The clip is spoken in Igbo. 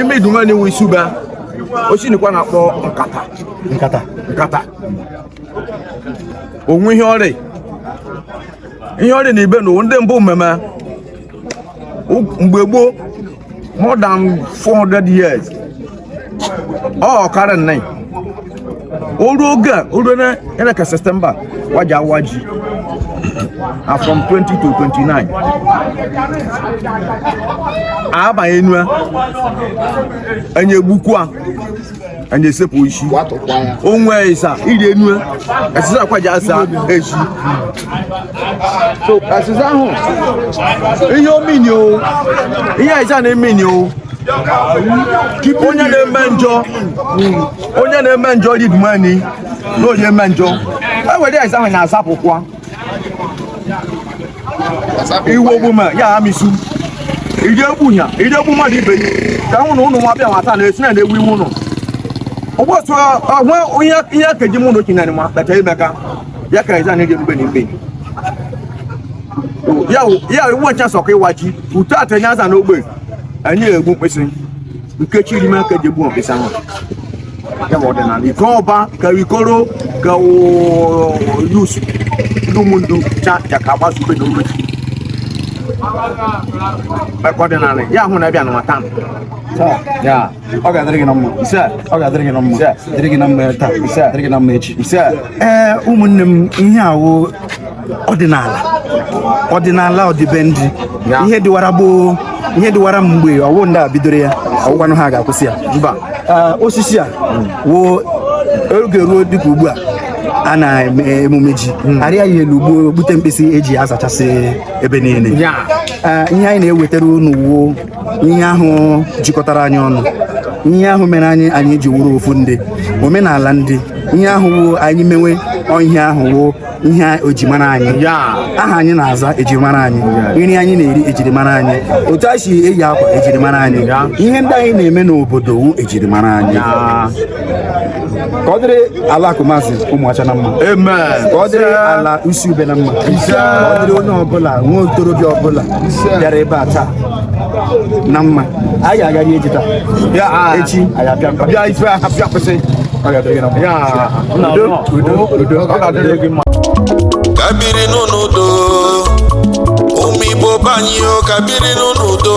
ime idumu ani nwe isi ube osisi ni ka wa na-akpọ nkata nkata nkata o nwe ihe ọ rị ihe ọ rị na ibe na ndị mbụ mmemme mgbe gboo more than 400 years ọ ọkara nna o ruo oge a o ruo na eleka september wa ja-awa ji na from 20 to 29 abanye enu a enye gbukwa enye sepụ isi o nwe eziza rị enu a eziza ka wa ji aza ezi so eziza ahụ ihe o me ni o ihe eziza na-eme ni o onye na-eme njọ onye na-eme njọ rị ime anị na onye eme njọ e were eziza ahụ na-azapụkwa ihe ogbuma ya amusu iji egbu ya iji egbu mmadụ ibe ya ka hụ na ụnụ nwa bịa nwata na esi na na-egbu iwu ụnụ ụbọchị ọhụ ihe keji mụ na okenye ma kpeta imeka ya ka eze na-eji ebube na ikpe ya iwu ncha sọkọ ịwa ji uto atenye aza n'ogbe anyị egbu mkpịsị nke chiri ime aka e ji egbu mkpịsị ahụ ya bụ ọdịnala iko ọba ka ikoro ka youths ndụmụndụ cha ya ka agbaso ube na ogbe mekọ ọdịnala ya ahụ na-abịa na nwata ya ọ ga-adịrị gị na mma ọ ga-adịrị gị na mma dịrị gị na mma taa dịrị gị na mma echi ee ụmụnne m ihe a wụ ọdịnala ọdịnala ọdịbendị ihe dịwara gboo ihe dịwara mgbe ọ wụ ndị a bidoro ya ọ wụkwanụ ha ga-akwụsị ya mba osisi a wụ oge ruo dịka ugbu a a na-eme emume ji hmm. arịa ya elu gbuo gbute mkpịsị e ji azachasị ebe niile ihe anyị na-ewetara unu wuo ihe ahụ jikọtara anyị ọnụ ihe ahụ mere anyị anyị ji wuru ofu ndị omenala ndị ihe ahụ wo anyị mewe ihe ahụ wo ihe e ji mara anyị aha anyị na-aza ejirimara anyị nri anyị na-eri ejirimara anyị otu a si eyi akwa ejirimara anyị ihe ndị anyị na-eme n'obodo wu ejirimara anyị ka ọ dịrị ala akumazi ụmụọcha na mma ka ọ dịrị ala usi ube na mma ka ọ dịrị onye ọbụla nwa okorobịa ọbụla bịara ebe a taa na mma anyị agaghị eji taa ah. echi anyị abịa bịa ife ahụ bịa kwụsị ọ ga-adịrị gị na mma udo udo udo ọ ga-adịrị gị mma ka biri n'udo ụmụ igbo be anyị ka biri n'udo